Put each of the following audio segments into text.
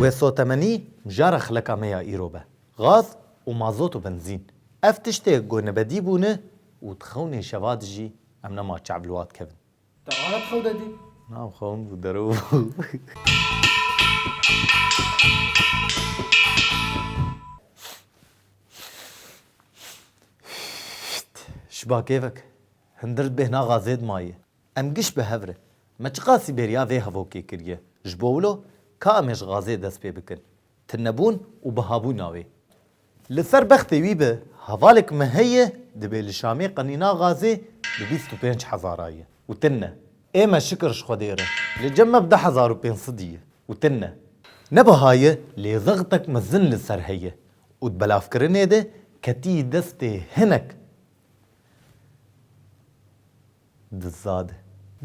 Wê sotemenî mijara xileka me ya îro be, gaz û mazot û benzîn. Ev tiştê ku nebedî bûne û di xewnê şeva de jî em nema çav li wat kevin. Te anî xew de dît? Na ew xewn bû, derow bû. Şiba kêfek. Hindir di bêhna xazê de maye. Em giş bi hev re. Me çiqasî bêriya vê hevokê kiriye? Ji bo wilo ka em ê ji gazê dest pê bikin. Tunebûn û bihabûna wê. Li ser bextê wî be, hevalek me heye dibê li Şamê qenîna gazê bi bîst û pênc hezara ye û tune. Ê me şikir ji Xwedê re, li cem me bi deh hezar û pênc sidî ye û tune. Ne biha ye, lê zextek mezin li ser heye û di belavkirinê de ketiyî destê hinek. di za de.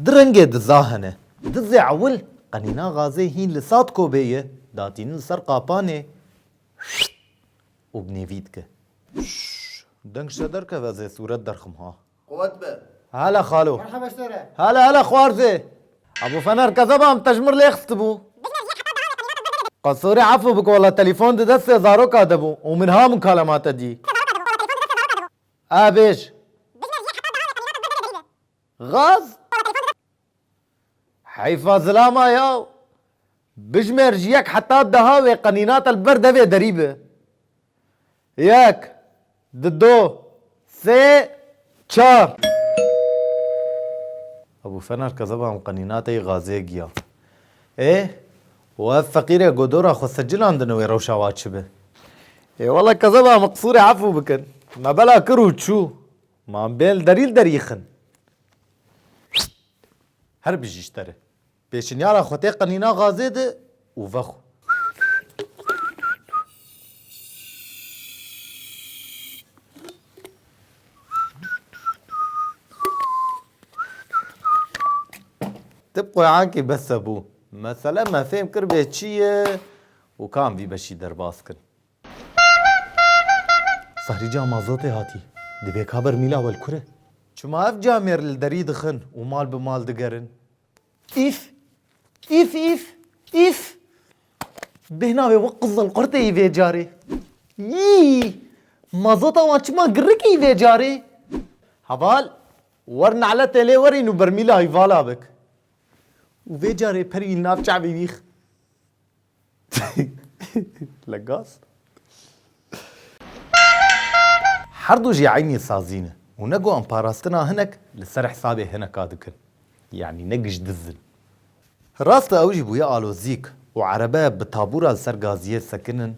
Di rengê di za hene. Di zê ewil qenîna gazê hîn li sat kobê ye, datînin li ser qapanê û bi nêvî dike. Deng şe derkeve zê sûret derxim ha. Quwet be. Hele xalo. Merhaba sore. Hele hele xwarzê. Abo fener kezeba em tejmir lê xistibû. Dijmir yê heta dawê qenîna te gur bibê. Qas sore efû bik walla telîfon di destê zaroka de bû û min ha min kalemate dî. Te zaroka de bû walla telîfon di destê zaroka de bû. Avêj. Gaz. Heyfa zilama ya. Bijimêr ji yek heta deha wê qenînata li ber devê derî bi. Yek. Di do. Sê. Çar. Ebû Fener Kezeba em qenînateyî gazê giya. Ê Û ev feqîrê ku dora xwe sicilandin wê rewşa wa çi be? Ê wele kezeba min qisûrê efû bikin. Me bela kir û çû. Ma em bên li derî li derî yixin. Her bijî ji te re. Pêşinyara xwe tê qenîna gazê de û vexwe. Ti qoyankê bes e bo mesele me fêm kir vê çi ye û ka em vî beşî derbas kin. Sarî ca mazotê hatî. Divê ka bermîla welkure. Çima ev camêr li derî dixin û mal bi mal digerin? Îf! Îf îf! Îf! Bêhna wê wek qizil qurtê yî vê carê. Yîî! Mazota wan çima girik î vê carê? Heval, wer neletê lê werîn û bermîla wî vala bik. Û vê carê perî li nav çavê wîx. Li gaz. Her du jî eynî sazî ne û ne ku em parastina hinek li ser hisabê hineka dikin. Yanî ne giş diz in. Rast e ew jî bûye alozîk û erebe bi tabûra li ser gaziyê sekin in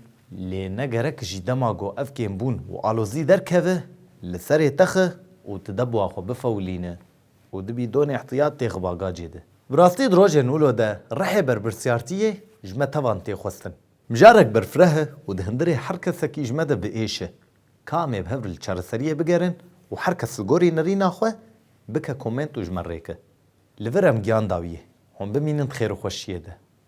lê ne gerek jî dema ku ev kêmbûn û alozî derkeve li serê texe û ti deboa xwe bifewilîne û di bîdonê îhtiyat tê xiba gacê de. Bi rastî di rojên ûlo de rehê berpirsyartiyê ji me tevan tê xwestin. Mijarek berfireh e û di hindirê her kesekî ji me de bi êş e. Ka em ê bi hev li çareseriyê bigerin û her kes li gorî nirîna xwe bike komênt û ji me rêke. Li vir em giyan dawiyê. Hûn bimînin di xêr û xweşiyê de.